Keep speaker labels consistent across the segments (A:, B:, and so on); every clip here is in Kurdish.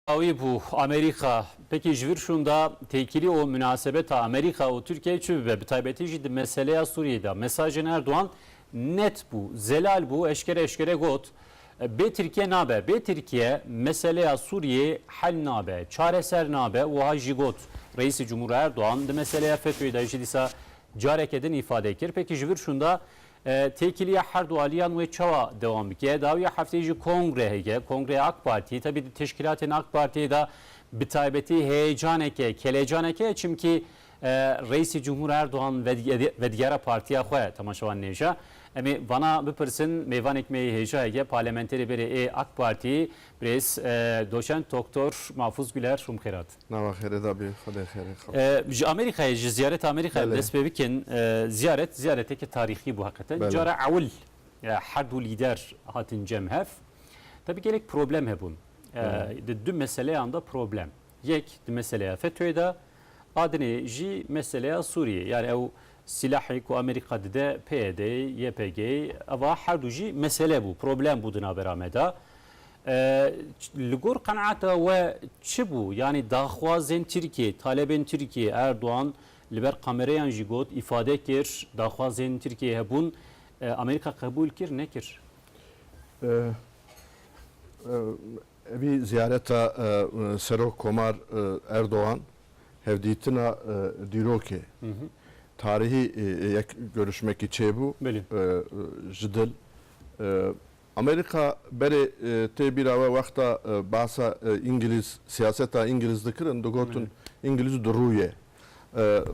A: Awî bû Amerîka. Pekî ji vir şûnda têkilî û minasebeta Amerîka û Tirkiyeyê çi bibe? Bi taybetî jî di meseleya Sûriyeyê de mesajên Erdogan net bû, zelal bû, eşkere eşkere got, Bê Tirkiye nabe, bê Tirkiye meseleya Sûriyeyê hel nabe, çareser nabe, wiha jî got. Reîsê Cumhûr Erdogan di meseleya FETÖ'yê de jî dîsa careke din îfade kir. Pekî ji vir şûnda Têkiliya her du aliyan wê çawa dewam bike? Dawiya hefteyê jî kongre heke, kongreya AK Partiyê. Tevî di teşkîlatên AK Partiyê de bi taybetî heyecaneke, kelecaneke ye çimkî Reîsê Cumhur Erdogan vedigera partiya xwe temaşewan nêja. Em ê vana bipirsin, mêvanêk me yê hêja heke, parlementerê berê ê AK Partiyê birêz Doçent Doktor Mafûz Guler. Rûmxêrat. Nava xêrê da bî xwedê xêrê xwe. Ji Amerîkayê ji ziyareta Amerîkayê dest pê bikin. Ziyaret ziyareteke tarîxî bû heqeten. Cara ewil her du lîder hatin cem hev. Tevî gelek problem hebûn. Di du meseleyan de problem. Yek di meseleya FETÖ'yê de a dinê jî meseleya Sûriyeyê. Yani ew silahê ku Amerîka dide PYD'ê, YPG'ê eva her du jî mesele bû, problem bû di navera me de. Li gor qenaata we çi bû? Yanî daxwazên Tirkiyeyê, talebên Tirkiyeyê Erdogan li ber kamereyan jî got, îfade kir, daxwazên Tirkiyeyê hebûn, Amerîka qebûl kir, nekir? Evî ziyareta Serok Komar Erdogan hevdîtina dîrokê tarîhî yek görüşmekî çêbû ji dil Amerîka berê tê bîra we wexta behsa îngilîz, siyaseta îngilîz dikirin digotin îngilîz du rû ye.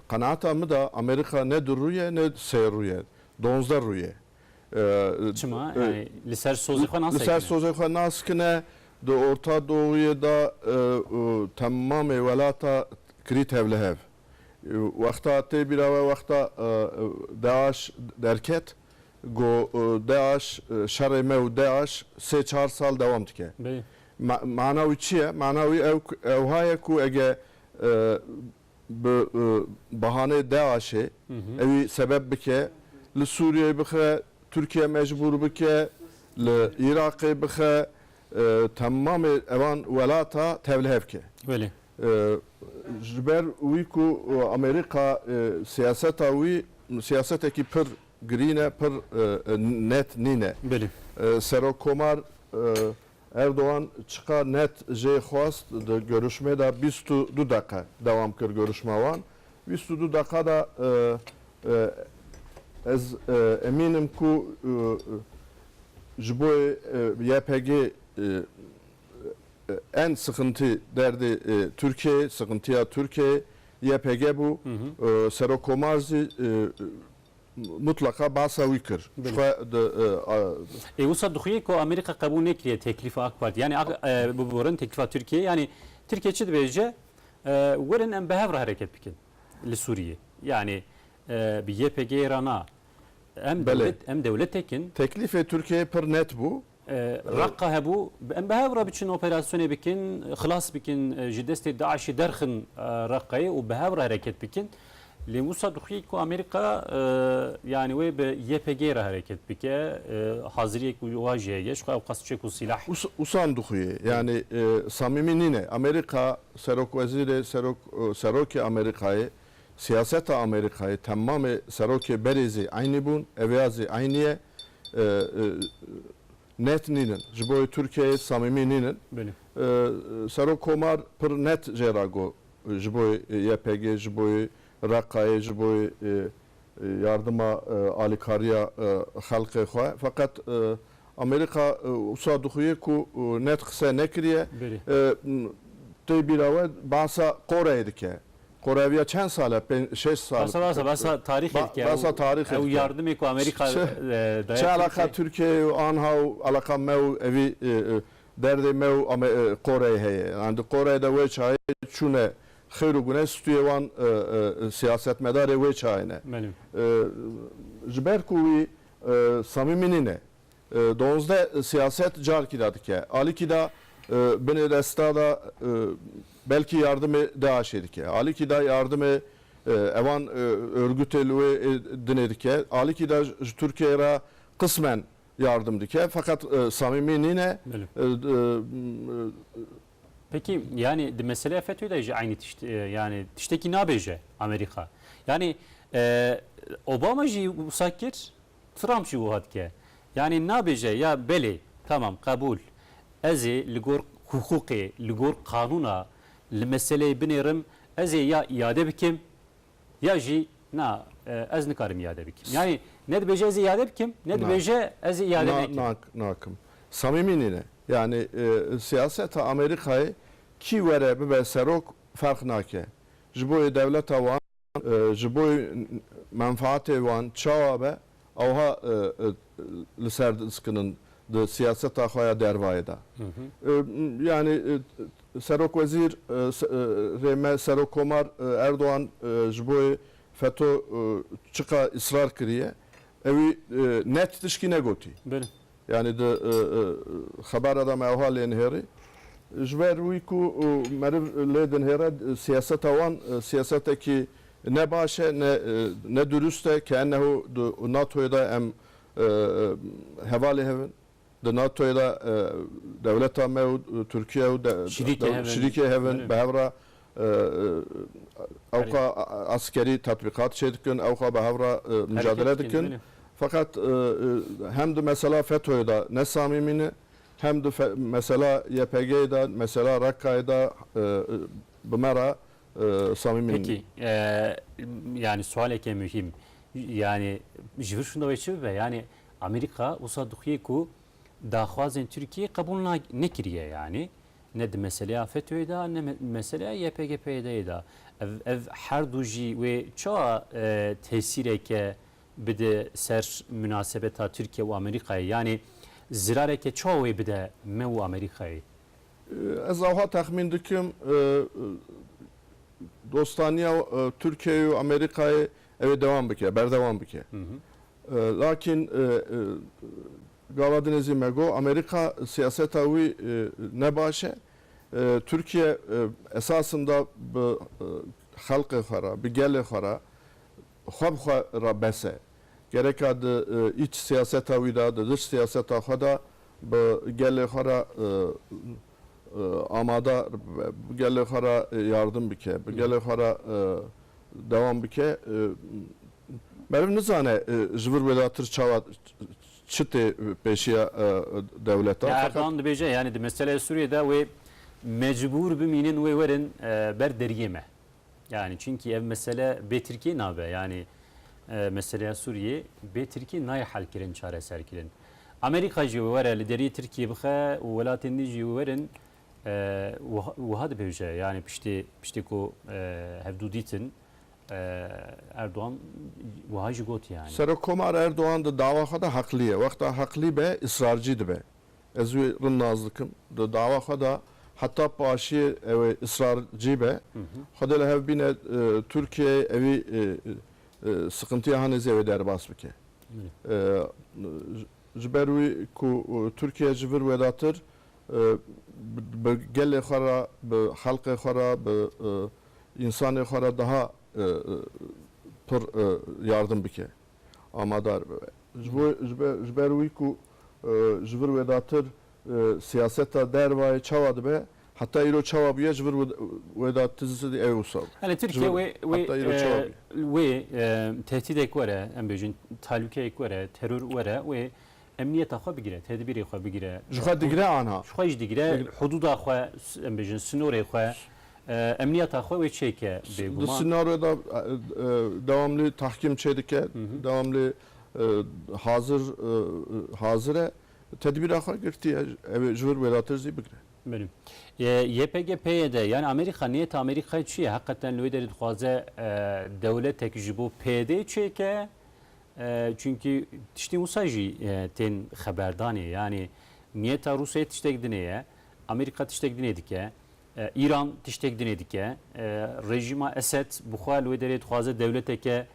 A: Qenaata min de Amerîka ne du rû ye ne sê rû ye. Donzdeh rû ye. Çima? Yanî li ser sozê xwe nasekine? Li ser sozê xwe nasikine. Di Orta Doğuyê de temamê welata kirî tevlihev. Wexta tê bîra we wexta DAIŞ derket ku DAIŞ, şerê me û DAIŞ sê çar sal dewam dike. Mana wî çi ye? Mana wî ew ha ye ku ege bi bahaneyê DAIŞê ewî sebeb bike li Sûriyeyê bixe, Tirkiye mecbûr bike li Iraqê bixe, temamê evan welata tevlihe bike. Ji ber wî ku Amerîka siyaseta wî siyasetekî pir Girîn e pir net nîne. Serokkomar Erdogan çiqa net jê xwest di görüşmê de bîst û du deqe dewam kir görüşma wan. Bîst û du deqa de ez emîn im ku ji bo YPG en sixintî derdê Tirkiyeyê, sixintiya Tirkiyeyê YPG bû Serokomar zî mutleqa basa wî kir. Xwe di. Ê wisa dixuye ku Amerîka qebûl nekiriye teklîfa AK Partî yanî biborin teklîfa Tirkîyeyê yanî Tirkîye çi dibêje werin em bi hev re hereket bikin li Sûrîyê yanî bi YPG'yê re na em dewlet em dewletek in. Teklîfê Tirkîyeyê pir net bû Reqa hebû em bi hev re biçin operasyonê bikin, xilas bikin ji destê DAIŞ'ê derxin Reqayê û bi hev re hereket bikin. Lê wisa dixuye ku Amerîka yanî wê bi YPG'ê re hereket bike, haziriyek û wiha jî heye ji xwe ew qas çek û sîlah. Wisa em dixuye yanî samîmî nîne. Amerîka serokwezîrê, serok, serokê Amerîkayê Siyaseta Amerîkayê temamê serokê berê zî eynî bûn, eveya zî eynî ye. Net nînin. Ji bo yê Tirkiyeyê samîmî nînin. Serok Komar pir net jê re got ji bo yê YPG'ê, ji bo yê Reqayê, ji bo yê yardima alîkariya xelkê xwe. Feqet Amerîka wisa dixuye ku net qise nekiriye. Tê bîra we behsa Qoreyê dike. Qoreviya çend sal e? Pênc, şeş sal. Besa besa besa tarîxê dike. Besa tarîxê dike. Ew yardimê ku Amerîka daye Tirkiyeyê. Çi eleqa Tirkiyeyê û anha û eleqa me û evî derdê me û Qoreyê heye? Yan di Qoreyê de wê çayê çûn e xêr û guneh stûyê wan siyasetmedarê wê çayê ne. Ji ber ku wî samîmî nîne. Duwazdeh siyaset carkî da dike. Alikî da binê desta da belkî yardimê DAIŞ'ê dike. Alikî da yardimê evan örgûtê li wê dinê dike. Alikî da ji Tirkiyeyê re qismen yardim dike. Feqet samîmî nîne. Peki yanî di meseleya FETÖ'yê de jî eynî tişt yanî tiştekî nabêje Amerîka. Yanî Obama jî wisa kir. Trump jî wiha dike. Yanî nabêje ya belê tamam qebûl ez ê li gor hiqûqê, li gor qanûna li meseleyê binêrim, ez ê ya îade bikim ya jî na ez nikarim îade bikim. Yanî ne dibêje ez ê îade bikim, ne dibêje ez ê îade nekim. Nakim. Samîmî nîne. Yanî siyaseta Amerîkayê kî were bibe serok ferq nake. Ji bo yê dewleta wan. Ji bo menfaatê wan çawa be ewha li ser diskinin di siyaseta xwe ya dervayê de. Yanî serokwezîr rê me serokkomar Erdogan ji bo feto çiqa îsrar kiriye ewî net tişkî negotî. Yanî di xebara de me wiha lê nihêrî, ji ber wî ku meriv lê dinihêre siyaseta wan siyasetekî ne baş e, ne durust e, keennehu di NATOyê de em hevalê hev in, di NATOyê de dewleta me û Tirkiye û şirîkê hev in, bi hev re Ew xwe eskerî tetbîqat çêdikin, ew xwe bi hev re micadele dikin. Feqet hem di mesela FETÖ'yê de ne samîmî ne, hem di mesela YPG'yê de, mesela Rakka'yê de bi me re samîmî ne. Peki, yanî sualeke muhîm, yanî ji vir şindewê çi bibe? Yanî Amerîka wisa dixuye ku daxwazên Tirkiyeyê qebûl nekiriye yanî. Ne di meseleya FETÖ'yê de ne meseleya YPG-PYD'yê de. Ev ev her du jî wê çawa tesîreke bide ser minasebeta Tirkiye û Amerîkayê? Yanî zirareke çawa wê bide me û Amerîkayê? Ez awha texmîn dikim dostaniya Tirkiyeyê û Amerîkayê ew ê dewam bike, berdewam bike. Lakîn Gava din jî me got, Amerîka siyaseta wî ne baş e. Tirkiye esasında bi xelqê xwe re, bi gelê xwe re, xwe bi xwe re bes e. Gereka di îç siyaseta wî de, di diç siyaseta xwe de bi gelê xwe re amade bibe, bi gelê xwe re yardim bike, bi gelê xwe re dewam bike. Meriv nizane ji vir wê de tir çawa Çi tê pêşiya dewleta? Erdogan dibêje yanî di meseleyê Sûriyê de wê mecbûr bimînin wê werin ber deriyê me. Yanî çinkî ev mesele bê Tirkiyê nabe. Yanî meseleya Sûriyê bê Tirkiyê nayê helkirin, çareserkirin. Amerîka jî wê were li deriyê Tirkiyê bixe û welatên din jî wê werin wiha dibêje. Yanî piştê piştê ku hevdû dîtin Erdogan wiha jî got yanî. Serokkomar Erdogan di dawa xwe de heqlî ye. Wexta heqlî be israrcî dibe. Ez wî rind nas dikim. Di dawa xwe de heta paşiyê ew ê israrcî be. Xwedê li hev bîne Tirkiyeyê ewî siqintiya hinî zêde derbas bike. Ji ber wî ku Tirkiye ji vir wêdatir Bi gelê xwe re, bi xelkê xwe re, bi însanê xwe re daha pir yardim bike, amadar bibe. Ji bo ji ber wî ku ji vir wêdatir siyaseta dervayê çawa dibe, heta îro çawa bûye ji vir wêdatirî ew ê wisa be. Elê Tirkiye wê wê tehdîdek were, em bêjin talûkeyek were, teror were wê. Emniyeta xwe bigire, tedbîrê xwe bigire. Ji xwe digire ana. Ji xwe jî digire, hudûda xwe, em bêjin sinorê xwe, emniyeta xwe wê çêke bêguman. Di sinore de dewamlî tahkîm çêdike, dewamlî hazir hazir e, tedbîra xwe girtiye, ew ê ji wir wêdatir zî bigire. Belê. YPG, PYD, yanî Amerîka, niyeta Amerîkayê çi ye? Heqeten li wê derê dixwaze dewletek ji bo PYD'ê çêke Çunkî tiştên wisa jî tên xeberdanê yanî niyeta Rûsyayê tiştek dinê ye, Amerîka tiştek dinê dike, Îran tiştek dinê dike, rejîma Esed bi xwe li wê derê dixwaze dewleteke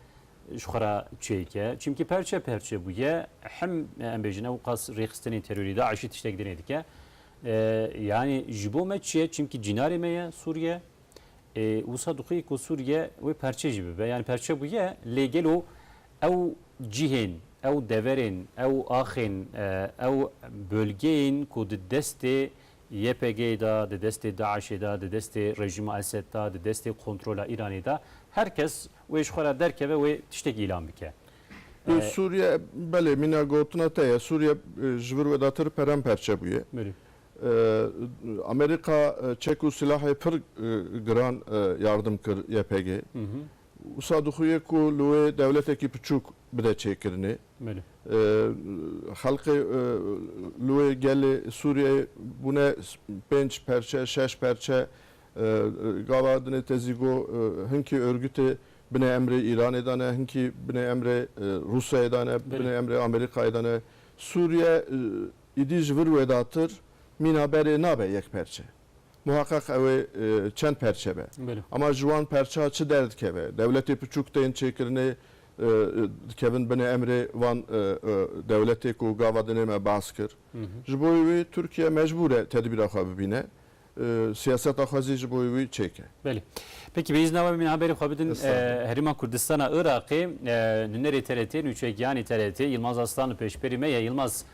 A: ji xwe re çêke. Çimkî perçe perçe bûye. Him em bêjin ew qas rêxistinên terorî DAIŞ'î tiştek dinê dike. Yanî ji bo me çi ye? Çimkî cînarê me ye Sûriye. E, wisa dixwî ku Sûriye wê perçe jî bibe. Yani perçe bûye lê gelo ew cihên, ew deverên, ew axên, e, ew bölgeyên ku di destê YPG'ê de, di destê DAIŞ'ê de, di destê rejîma Esed de, di destê kontrola Îranê de her kes wê ji xwe re derkeve wê tiştek îlan bike. E, Sûriye belê mîna gotina te ye. Sûriye ji vir wê datir peramperçe bûye. Belê. Amerîka çek û silahê pir giran yardim kir YPG'ê. Wisa dixuye ku li wê dewletekî piçûk bide çêkirinê. Xelkê li wê gelê Sûriyeyê bûne pênc perçe, şeş perçe. Gava dinê te zî got hinkî örgûtê binê emrê Îranê de ne, hinkî binê emrê Rûsyayê de ne, binê emrê Amerîkayê de ne. Sûriye. Îdî ji vir wêdatir mîna berê nabe yek perçe. Muheqeq ew ê çend perçe be. Ama ji wan perça çi derdikeve? Dewletê piçûk tên çêkirinê dikevin binê emrê van dewletê ku gava dinê me baz kir. Ji bo wê Tirkiye mecbûr e tedbîra xwe bibîne. Siyaseta xwe zî ji bo wî çêk e. Belê. Peki bi îzna we min haberê xwe bidin. Herêma Kurdistana Iraqê nûnerê TRT, nûçegiyanê TRT Yilmaz Arslan li pêşberî me ye. Yilmaz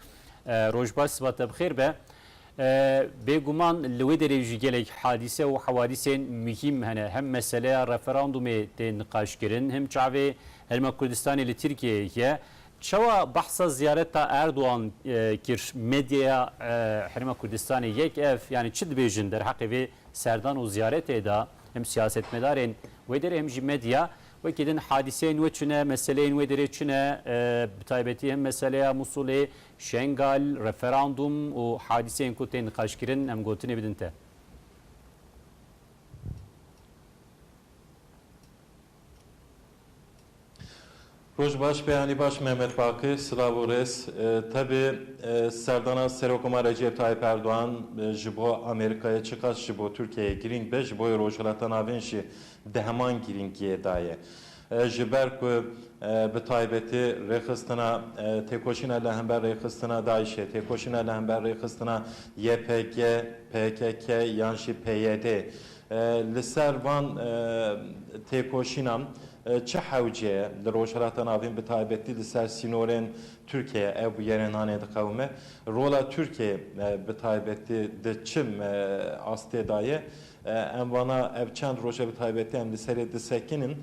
A: roj baş sibat te bi xêr be. Bêguman li wê derê jî gelek hadîse û hewadîsên muhîm hene. Hem meseleya referandûmê tê niqaşkirin, hem çavê Herêma Kurdistanê li Tirkiyeyê ye. Çawa behsa ziyareta Erdogan kir medyaya Herêma Kurdistanê yek ev yanî çi dibêjin derheqê vê serdan û ziyaretê de hem siyasetmedarên wê derê hem jî medya wekî din hadîseyên nû çine, meseleyên wê derê çine bi taybetî hem meseleya Mûsulê, Şengal, referandûm û hadîseyên ku tên niqaşkirin em gotinê bidin te. Roj baş Peyami baş Mehmet Baqi silav û rêz Tevî serdana Serokomarê Recep Tayyip Erdogan ji bo Amerîkayê çiqas ji bo Tirkiyeyê girîng be ji bo Rojhilata Navîn jî di heman girîngiyê de ye. Ji ber ku bi taybetî rêxistina têkoşîna li hember rêxistina DAIŞ'ê, têkoşîna li hember rêxistina YPG, PKK yan jî PYD'ê Li ser van têkoşînan çi hewce ye? Li Rojhilata Navîn bi taybetî li ser sînorên Tirkiyeyê ew bigerinanê diqewime. Rola Tirkiyeyê bi taybetî di çi astê de ye? Em vana ev çend roj e bi taybetî em li serê disekinin.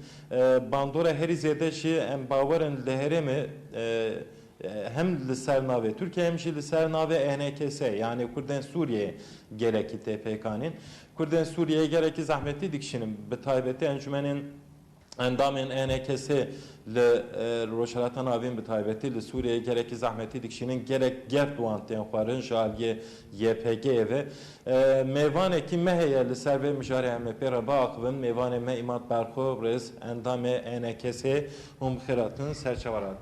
A: Bandora herî zêde jî em bawer in li herêmê Hem li ser navê Tirkiyeyê hem jî li ser navê ENKS yanê Kurdên Sûriyeyê gelekî tê pêkanîn. Kurdên Sûriyeyê gelekî zehmetî dikişînin bi taybetî encûmenên endamên ENKSê li Rojhilata Navîn bi taybetî li Sûriyeyê gelekî zehmetî dikişînin gelek gert wan tên xwarin ji aliyê YPG'ê ve. Mêvanekî me heye li ser vê mijarê em ê pê re biaxivin mêvanê me Îmad Berxo rêz endamê ENKSê hûn bi xêr hatin ser çavan hat.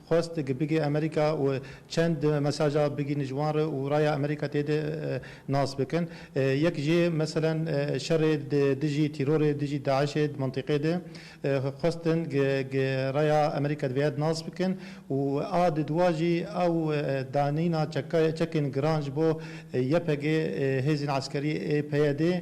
A: Xwest dike bigê Amerîka û çend mesaja bigihîne ji wan re û raya Amerîka tê de nas bikin. Yek jê meselen şerê di dijî tîrorê, dijî DAIŞ'ê di mintîqê de xwestin raya Amerîka divêya di nas bikin û a di dua jî ew danîna çekên giran ji bo YPG'ê hêzên eskerî ê PYD'ê,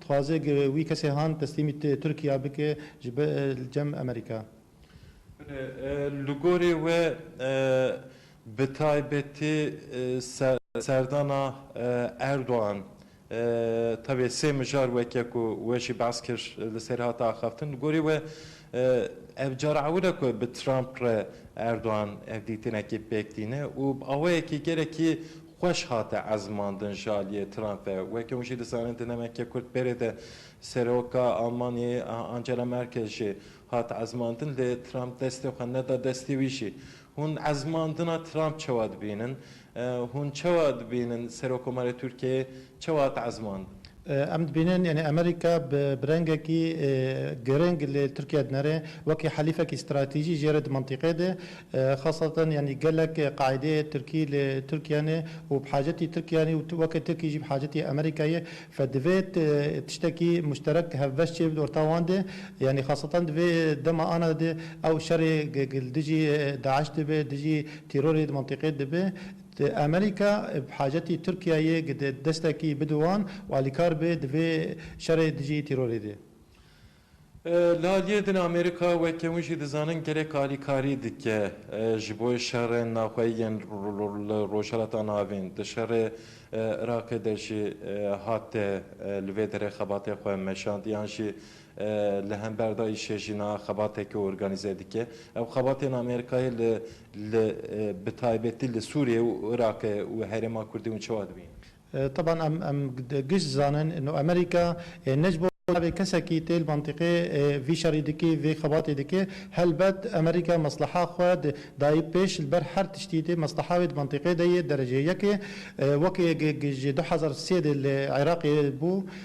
A: Dixwaze ge wî kesê han teslîmî Tirkiya bike ji be li cem Amerîka. Li gorî we bi taybetî serdana Erdogan tevê sê mijar weke ku we jî behs kir li ser hate axaftin. Li gorî we ev cara ewil e ku bi Trump re Erdogan ev dîtinekî pêk tîne û bi awayekî gelekî Xweş hate ezmandin ji aliyê Trump ve. Weke hûn jî dizanin di nemeke kurt berê de Seroka Almanyayê Angela Merkel jî hat ezmandin lê Trump destê xwe neda destê wî jî. Hûn ezmandina Trump çawa dibînin? Hûn çawa dibînin Serokomarê Tirkiyeyê çawa hat ezmandin? Em dibînin yanî Amerîka bi bi rengekî giring li Tirkiye dinere wekî helîfekî stratejî jê re di mintîqê de. Xesatan yanî gelek qaîdeyê Tirkî li Tirkiye ne û bi hacetî Tirkiye ne û weke Tirkî jî bi hacetî Amerîka ye. Fe divê tiştekî muşterek hevbeş çê bide orta wan de. Yanî xesatan di vê dema ana de ew şerê li dijî DAIŞ dibe, dijî tîrorê di mintîqê dibe. Di Amerîka bi hacetî Tirkiyeyê gide destekî bide wan û alîkar be di vê şerê dijî tîrorê de. Li aliyê din Amerîka weke hûn jî dizanin gelek alîkarî dike ji bo şerên naxweyî yên li Rojhilata Navîn. Di şerê Iraqê de jî hate li vê derê xebatê xwe meşand yan jî li hember da îşê jîna xebateke organîze dike. Ev xebatên Amerîkayê li Li bi taybetî li Sûriyê û Iraqê û herêma Kurdê hûn çawa dibînin? Taban em em giş dizanin ino Amerîka ê ne ji bo navê kesekî tê li mentiqê ê vî şerî dikê vê xebatê dikê. Helbet Amerîka mesleha xwe di dayî pêş li ber her tiştî tê mesleha wê di mentiqê de yê dereceyê yekê. Wekê ji du hezar sê de li Iraqê bû.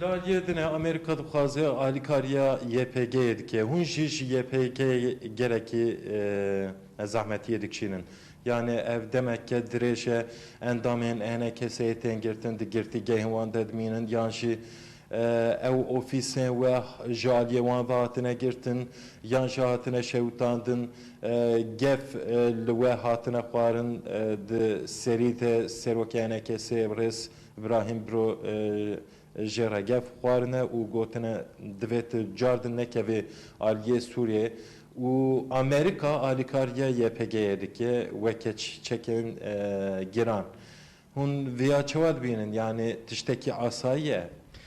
A: Laliye din e Amerîka dixwaze alîkariya YPG'yê dike. Hûn jî ji YPG'yê gelekî zehmetiyê dikişînin. Yanê ev demeke dirêj e endamên HNKS'ê tên girtin, di girtîgehên wan de dimînin yan jî ew ofîsên we ji aliyê wan ve hatine girtin yan jî hatine şewitandin, gef li we hatine xwarin di serî de serokê HNKS'ê rêz Îbrahîm Bro jê re gef xwarine û gotine divê tu cardin nekevî aliyê Sûriyê û Amerîka alîkariya YPG'yê dike weke çekên giran. Hûn viya çawa dibînin? Yanî tiştekî asayî ye?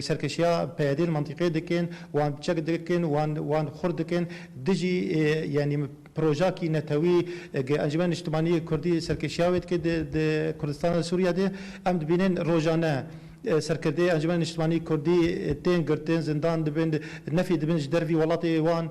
A: Serkişiya PYD'ê li mentiqê dikin, wan çek dikin, wan xurt dikin, dijî yanî proja kî netewî Encûmena Niştimanî yê Kurdî serkişiya wê dike di Kurdistana Sûriye de. Em dibînin rojane serkirdeyê Encûmena Niştimanî Kurdî tên girtin, zindan dibin, nefê dibin ji dervî welatê wan.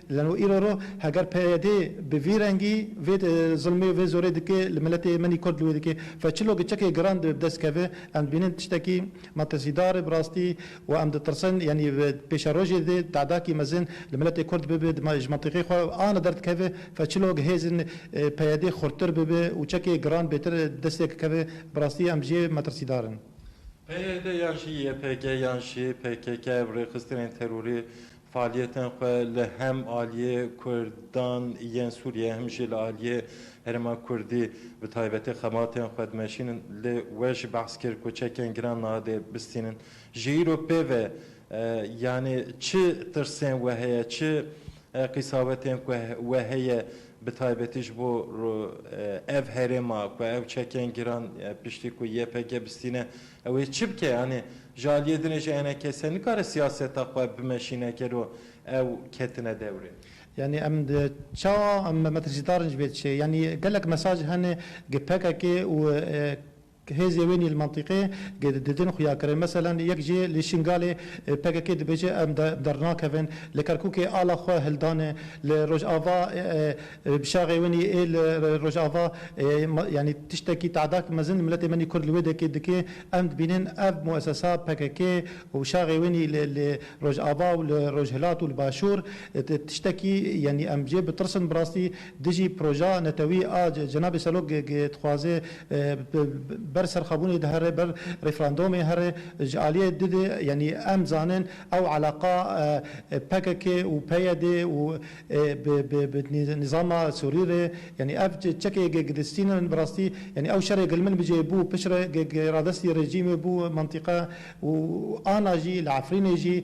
A: Lano îro ro heger PYD bi vî rengî vê zilmê û vê zorê dike li miletê menî kurd li wê dike ve çilo giçekê giran dibe bi dest keve em dibînin tiştekî matirsîdar e bi rastî û em ditirsin yanî bi pêşerojê de tedakî mezin li miletê kurd bibe ji mentiqê xwe ana derdikeve ve çilo hêzên PYD xurttir bibe û çekê giran bêtir bi destê keve bi rastî em jê metirsîdar in. PYD yan jî YPG yan jî PKK ev rêxistinên terorî Faaliyetên xwe li hem aliyê Kurdan yên Sûriyê hem jî li aliyê herêma Kurdî bi taybetî xebatên xwe dimeşînin. Lê we jî behs kir ku çekên giran niha dê bistînin. Ji îro pê ve yanî çi tirsên we heye, çi qîsawetên ku we heye bi taybetî ji bo ev herêma ku ew çekên giran piştî ku YPG bistîne Ew ê çi bike yanî? Ji aliyê din ê ji ene kesê nikare siyaseta xwe bimeşîne gelo ew ketine dewrê. Yanî em çawa em metrcîdar in ji vê çê? Yanî gelek mesaj hene ke pkk û hêzê wê nîl mentiqê ke didin xuyakirin. Meselen yek jê li Şingalê pkk dibêje em dernakevin, li Kerkûkê ala xwe hildane, li Rojava Bi şaxê winî ê li Rojava yanî tiştekî te'dak mezin miletê menî Kurd li wê dekê dike. Em dibînin ev muesesa pkk û şaxê winî li Rojava û li Rojhilat û li Başûr tiştekî yanî em jê bitirsin bi rastî dijî proja netewî a cenabê Serok dixwaze ber serxwebûnê di here ber referandomê here ji aliyê dide yanî em dizanin ew eleqa pkk û PYDê û Bi nîzama Sûrî re yanî ev çekê gilistîn in bi rastî yanî ew şerê gilmin bi cê bû pişt re radestî rejîmê bû mentiqe û ana jî li Efrînê jî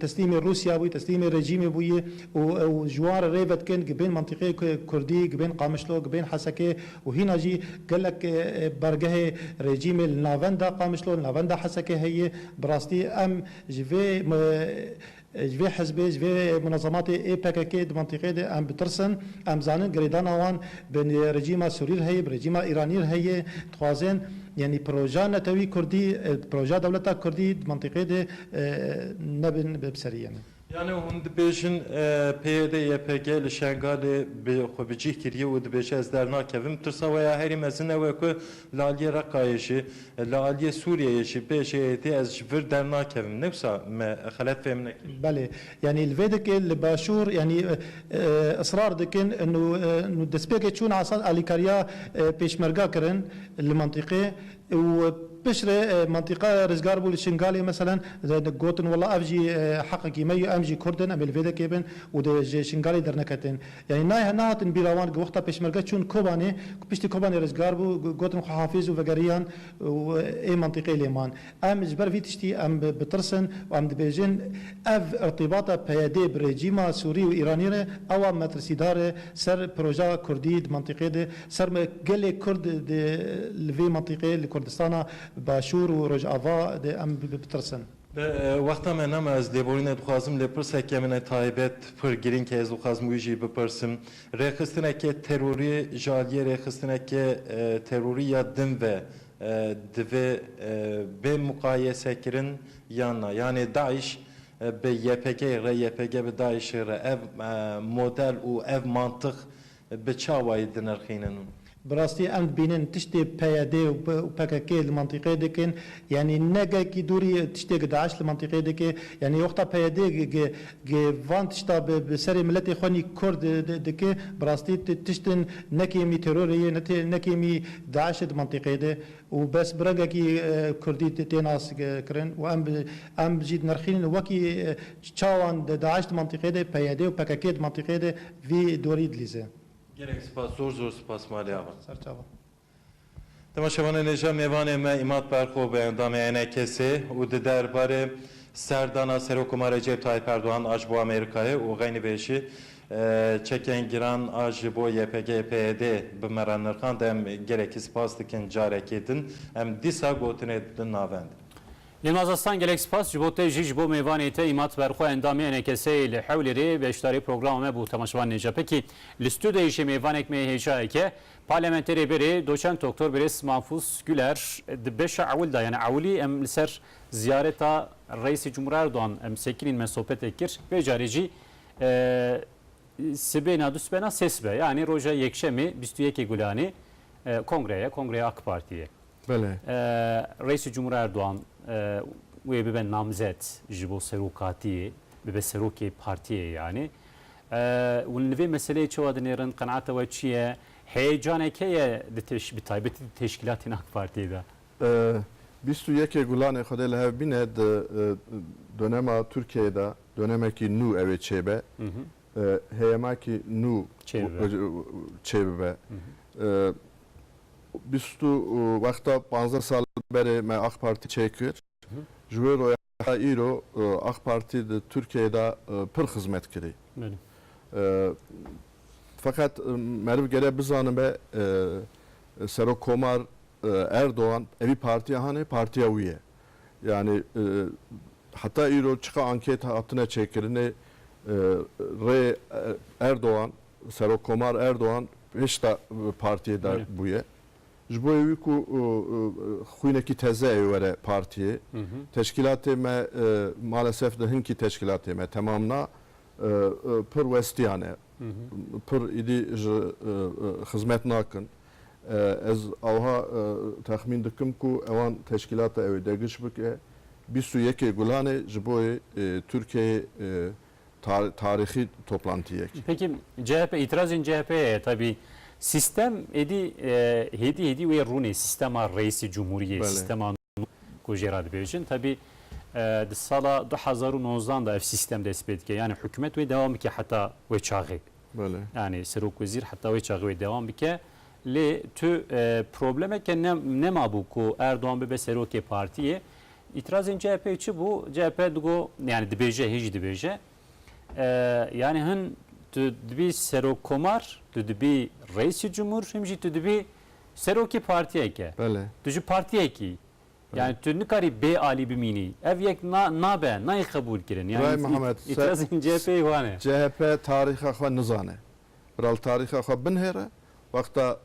A: teslîmê Rûsya bûyî teslîmê rejîmê bûyî û ew ji wan re rê vedikin gibên mentiqê kurdî gibên Qamişlo gibên Hesekê û hîna jî gelek bargehê rejîmê li navenda Qamişlo li navenda Hesekê heye bi rastî em ji vê Ji vê hizbê, ji vê munezematê ê PKK'ê di mintîqeyê de em bitirsin. Em dizanin girêdana wan bi rejîma Sûrî re heye, bi rejîma Îranî re heye. Dixwazin yanî proja netewî Kurdî, proja dewleta Kurdî di mintîqeyê de nebin bi serî yanî. Yanî hûn dibêjin PYD, YPG li Şengalê bi xwe bi cîh kiriye û dibêje ez dernakevim. Tirsa we ya herî mezin ew e ku li aliyê Reqayê jî, Li aliyê Sûriyeyê jî pê JAT ez ji vir dernakevim. Ne wisa me xelet fêm nekir. Belê. Yanî li vê dikê li başûr yanî israr dikin nû destpêkê çûn Esad alîkariya pêşmerga kirin li mentiqê û piştre mentiqa rizgar bû li Şingalê meselen gotin wela ev jî heqekî me ye em jî kurd in em ê li vê dikê bin û ji Şingalê derneketin. Yanî nayê nahatin bîra wan ku wexta pêşmerge çûn Kobanê ku piştî Kobanê rizgar bû gotin xwe hafîz û vegeriyan û ê mentiqê lê man. Em ji ber vî tiştî em bitirsin û em dibêjin ev irtîbata PYD bi rejîma Sûrî û Îranî re awa metirsîdar e ser proja Kurdî di mentiqê de, ser gelê Kurd de li vê mentiqê li Kurdistana Başûr û Rojava de em bitirsin. Bi wexta me nema ez lêborîne dixwazim lê pirseke min e taybet pir girîng e ez dixwazim wî jî bipirsim. Rêxistineke terorî ji aliyê rêxistineke terorî ya din ve divê bê muqayesekirin yan na? Yanê DAIŞ bi YPG'ê re, YPG bi DAIŞ'ê re ev model û ev mantix bi çawayî dinirxînin. Bi rastî em dibînin tiştê PYD û PKK li mentiqê dikin yanî ne gelkî dûrî tiştê ku DAIŞ li mentiqê dike yanî wexta PYD ku van tişta bi serê miletê xwe nî Kurd dike bi rastî tiştin ne kêmî terorê ye ne kêmî DAIŞ e di mentiqê de û bes bi rengekî Kurdî tê nas kirin û em em jî dinirxînin wekî çawan DAIŞ di mentiqê de PYD û PKK di mentiqê de Vî dorî dilîze. Gelek sipas zor zor sipas malê ava. Serçava. Dema şevanê nêja mêvanê me Îmad Berxo bi endamê NKS'ê û di der barê serdana Serokkomar Recep Tayyip Erdogan a ji bo Amerîkayê û xeynî vê jî çekên giran a ji bo YPG'ê PYD'ê bi me re nirxand em gelekî sipas dikin carekê din em dîsa gotinê di navend. Nilmaz Aslan gelek spas ji bo te jî ji bo mêvanê te îmat ber xwe endamê NKS'ê li Hewlêrê beşdarê programa me bû temaşevan Nêcepekî li stûdyoyê jî mêvanek mê hêjayek e Parlamenterê berê doçent Doktor Birêz Mahfûz Guler di beşa ewil de yanî ewilî em li ser ziyareta Reîsê Cumhur Erdogan em sekinîn me sohbetê kir vê carê jî sibêna du sibena sê sibe yanî roja yekşemê bîst û yekê Gulanê kongre ye kongreya Akpartiyê. Belê. Reîsê Cumhur Erdogan wê bibe namzet ji bo serokatiyê, bibe serokê partiyê yanî. Hûn li vê meseleyê çawa dinêrin, qenaeta we çi ye? Heyecaneke ye di teş, bi taybetî di teşkîlatên AK Partiyê de? Bîst û yekê Gulanê Xwedê li hev bîne di dönem a Tirkiyeyê de dönemekî nû ew ê çêbe. heyemekî nû çêbibe. Bîst û wexta panzdeh sal berê me Ak Partî çêkir. Ji wê roya heta îro Ak Partî di Tirkiyeyê de pir xizmet kirî. Feqet meriv gere bizanibe Serokkomar Erdogan evî partiya hane, partiya wî ye. Yanî heta îro çiqa anket hatine çêkirinê rê Erdogan, Serokkomar Erdogan hêşta bi partiyê de bûye. Ji bo yê wî ku xwînekî teze ê were partiyê. Teşkîlatê me malesef di hinkî teşkîlatê me temam na. Pir westiyan e. Pir êdî ji xizmet nakin. Ez awha texmîn dikim ku ewan teşkîlata ew ê degiş bike. Bîst û yekê Gulanê ji bo yê Tirkiyeyê tarîxî toplantiyek e. Peki CHP, îtirazên CHP'ye ye tevî. Sîstem êdî hêdî hêdî wê rûnê sîstema Reîsî Cumhuriyê, sîstema. bû ku jê re dibêjin. Tevî di sala du hezar û nozdan de ev sîstem dest pê dike. Yanî hikûmet wê dewam bike heta wê çaxê. Yanî serokwezîr heta wê çaxê wê dewam bike. Lê tu problemeke ne nemabû ku Erdogan bibe serokê partiyê. Îtirazên CHP'ê çi bû? CHP digo yanî dibêje hê jî dibêje. Yanî hin tu dibî serokkomar, tu dibî reîsî cumhur him jî tu dibî Serokê partiyeke. Belê. Tu ji partiyekî. Yani tu nikarî bê alî bimînî. Ev yek na nabe, nayê qebûlkirin. Yani Birayê Mihemed, se îtirazên CHP'yê wan e. CHP tarîxa xwe nizane. Biralo tarîxa xwe binhêre, wexta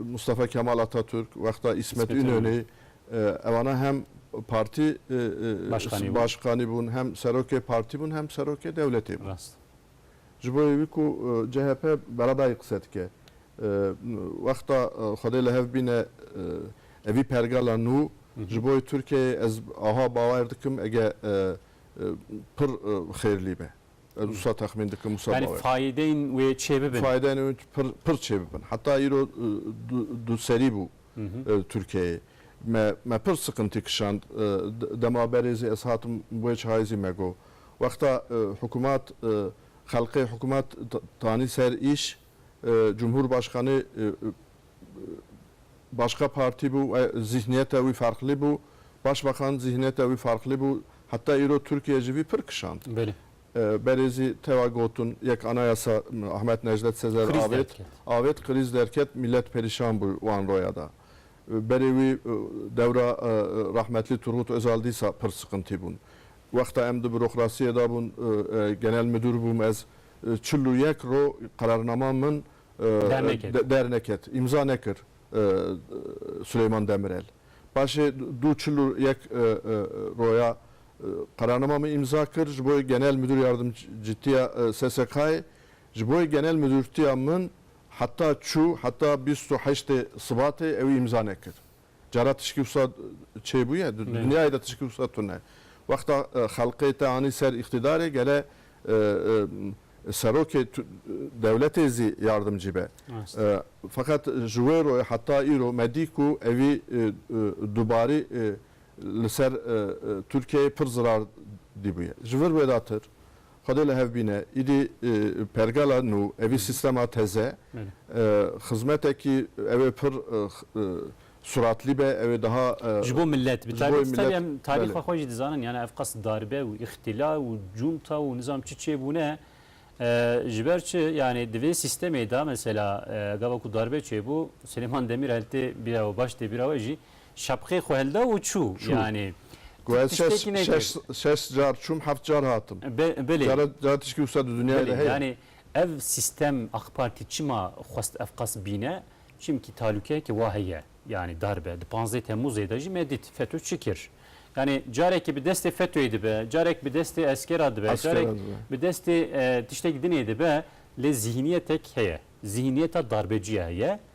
A: Mustafa Kemal Atatürk, wexta Îsmet Îsmet Ünal. Ünalî, ewana hem partî Başkanî bûn. başkanî bûn, hem serokê partî bûn, hem serokê dewletê bûn. Rast. Ji bo wî ku CHP beredayî qise dike. Wexta Xwedê li hev bîne evî pergala nû ji bo Tirkiyeyê ez aha bawer dikim ege pir xêrlî be. Ez wisa texmîn dikim wisa bawer. Yani fayideyên wê çê bibin. Fayideyên wê pir çê bibin. Heta îro duserî bû Tirkiyeyê. Me pir siqintî kişand. Dema berê zî ez hatim wê çayê zî me got. Wexta hikûmat xelqê hikûmat danî ser îş, cumhurbaşkanê başka partî bû û zîhniyeta wî ferqlî bû. Başbakan zîhniyeta wî farqlî bû. Heta îro Tirkiye ji vî pir kişand. Berê zî tewa gotin yek anayasa Ahmet Necdet Sezer avêt, avêt krîz derket, mîlet perîşan bû wan roya de. Berê wî dewra rehmetlî Turgut Ozal dîsa pir siqintî bûn. Wexta em di bürokrasiyê de bûn, genel midûr bûm ez, çil û yek roj qerarnama min derneket, îmza nekir Suleyman Demirel. Paşê dû çil û yek roja qerarnama min îmza kir ji bo genel midûr yardimcîtiya SSK'ê. Ji bo genel midûrtiya min Heta çû heta bîst û heştê Sibatê ew îmza nekir. Cara tişkî wisa çêbûye? Di dinyayê de tişkî wisa tune. Wexta xelqê te anî ser îqtîdarê gele serokê dewletê zî yardimcî be. Feqet ji wê royê heta îro me dî ku evî dubarî li ser Tirkiyeyê pir zirar dîbûye. Ji vir wêdatir Xwedê li hev bîne. Îdî pergala nû, evî sîstema teze, xizmetekî ew ê pir suratlî be, ew ê daha Ji bo milet, bi taybet taybî em tarîxa xwe jî dizanin, yan ev qas darbe û îxtîla û cûnta û nizanim çi çê bûne. Ji ber çi, yanî di vê sîstemê de mesela gava ku darbe çê bû, Silêman Demîrel tê bîra we, baş tê bîra we jî, Şapkê xwe hilda û çû. Çû. Yanî Ku ez şeş tiştekî nekir. şeş şeş car çûm heft car hatim. Bi bilê. Cara cara tişkî wisa di dinyayê de Bilê. heye. Yanî ev sîstem AK Partî çima xwest ev qas bîne? Çimkî talûkeyekê wa heye. Yanî dar be. Di panzdeh Temmûzê de jî me dît FETÖ çi kir. Yanî carekê bi destê FETÖ'yê dibe, carek bi destê eskera dibe, Eskera carek dibe. bi destê e, tiştek dinê dibe lê zîhniyetek heye. Zîhniyeta darbecîye heye.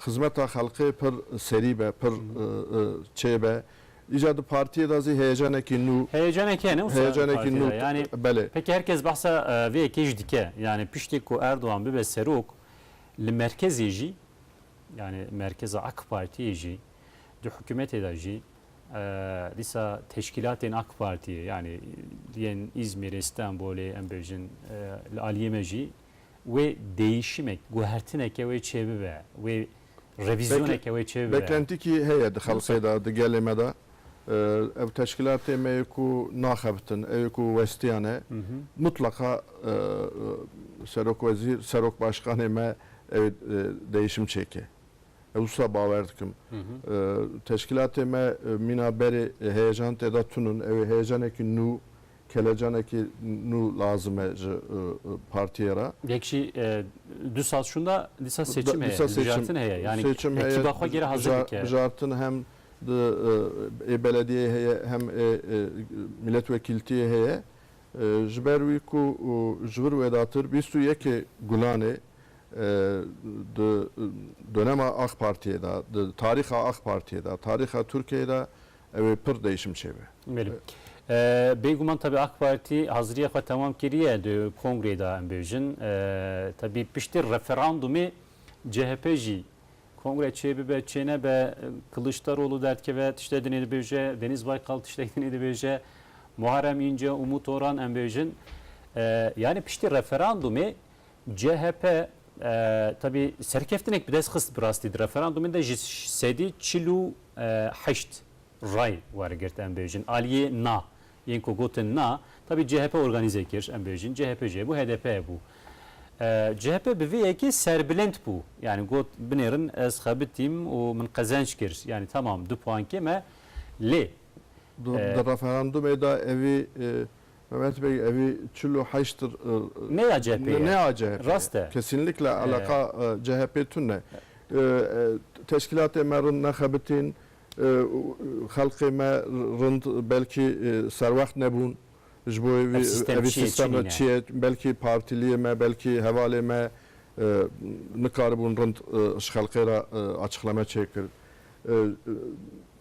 A: Xizmeta xelkê pir serî be, pir çê be. Îca di partiyê de zî heyecanekî nû. Heyecanekî hene wisa di partiyê de. Yanî pekî her kes behsa vê yekê jî dike. Yanî piştî ku Erdogan bibe serok li merkezê jî yanî merkeza AK Partiyê jî di hikûmetê de jî dîsa teşkîlatên AK Partiyê yanî yên Îzmîrê, Stenbolê em bêjin li aliyê me jî wê değişimek, guhertineke wê çêbibe, wê revizyoneke wê çêbibe. Beklentikî heye di xelkê de, di gelê me de. Ev teşkîlatê me yê ku naxebitin, ew yê ku westiyan e. Mutleqa serokwezîr, serokbaşkanê me ew değişim çêke. Ez wisa bawer dikim. Teşkîlatê me mîna berê heyejan tê de tun in. Ew ê heyecanekî nû Kelecanekî nû lazim e ji partiyê re. Yek jî du saz şûnda dîsa seçim heye, hilbijartin heye. Yanî ekîba xwe gera hazir bike. Hilbijartin hem di ê belediyeyê heye hem ê mîletvekîltiyê heye. Ji ber wî ku ji vir wêdatir bîst û yekê Gulanê di donema Aqpartiyê de, di tarîxa Aqpartiyê de, tarîxa Tirkiyeyê de Ew ê pir değişim çêbe. Belê. Bêguman tevî AK Partî hazirîya xwe temam kiriye di kongreyê de em bêjin. Tevî piştî referandumê CHP jî kongre çê bibe çê nebe Kiliçdaroglu derdikeve tiştek dinê dibêje, Denîz Baykal tiştek dinê dibêje, Muharrem Înce û Umut Oran em bêjin. Yanî piştî referandumê CHP tevî serkeftinek bi dest xist bi rastî di referandûmê de ji sedî çil û heşt ray wergirt em bêjin aliyê na yên ku gotin na tevî CHP organîze kir em bêjin CHP jê bû HDP'ye bû. CHP bi vê yekê serbilind bû yanî got binêrin ez xebitîm û min qezenç kir yanî temam du puankê me lê. Di referandûmê de evî Mehmet beg evî çil û heşt Nêya CHP'ê ye. Nêya CHP'ê ye. Rast e. Kesînlikle eleqa CHP'ê tune. Teşkîlatê me rind nexebitîn, xelqê me rind belkî serwext nebûn ji bo vî evî sîstem çi ye. Belkî partîliyê me, belkî hevalê me nikaribûn rind ji xelqê re açıqlame çêkir.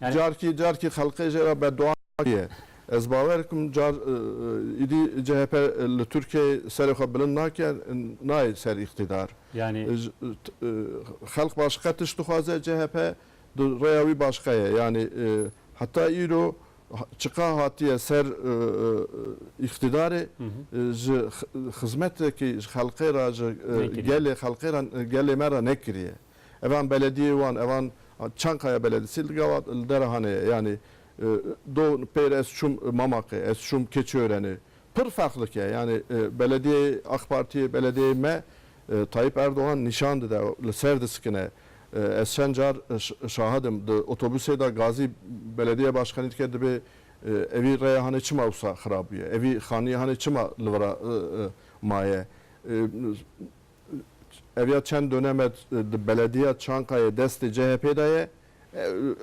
A: Carkî carkî xelqê jê re beddua ye. Ez bawer dikim car îdî chp li Tirkiyeyê serê xwe bilind nake, nayê ser îqtîdar. Yanî. Xelq başiqe tişt dixwaze, chp di rêya wî başiqe ye. Yanî heta îro çiqa hatiye ser îqtîdarê ji xizmetekî ji xelqê re, ji gelê xelqê re, gelê me re nekiriye. Evan belediyê wan evan Çankaya beledisi li gavat li Derehanê ye yanî do pêr ez çûm Mamaqê ez çûm Keçiörenê pir ferqlik ye yanî belediyeyê Ak Partiyê belediyeyê me Tayyip Erdogan nîşan dide li ser disikine ez çend car şahid im di otobusê de gazî belediyeya başkanî dike dibê evî reya hanê çima wisa xirab bûye evî xaniyê hanê çima li vira maye Ev ya çend donem e di belediya Çankayê destê CHP'ê de ye.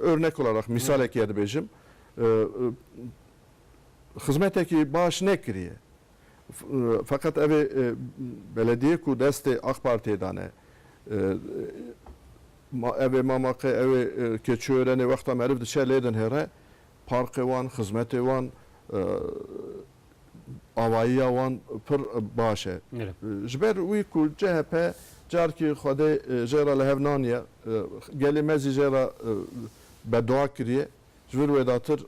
A: Örnek olarak, misalekî ye dibêjim. Xizmetekî baş nekiriye. Feqet ev ê belediyê ku destê AK Partiyê de ne. Ev ê mamaqê, ew ê keçiörenê wexta meriv diçe lê dinhêre, parkê wan, xizmetê wan, avayiya wan pir baş e. Ji ber wî ku chp carkî xwedê jê re li hev naniye, gelê me zî jê re beduwa kiriye, ji vir wê datir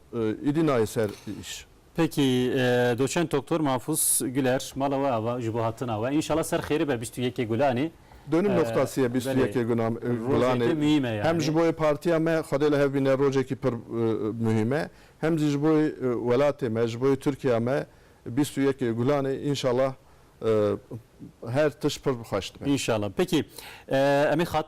A: êdî nayê ser îş. Peki doçent doktor Mahfuz Güler mala we ava ji bo hatina we. Înşala ser xêrê be bîst û yekê Gulanê. Donim noxtasi ye bîst û yekê Gulanê hem ji bo yê partiya me xwedê li hev bîne rojekî pir muhîm e. Hem jî ji bo welatê me, ji bo Tirkiya me bîst û yek Gulanê înşallah her tişt pir bi xweş dibe. Înşallah. Peki em ê xatirjemê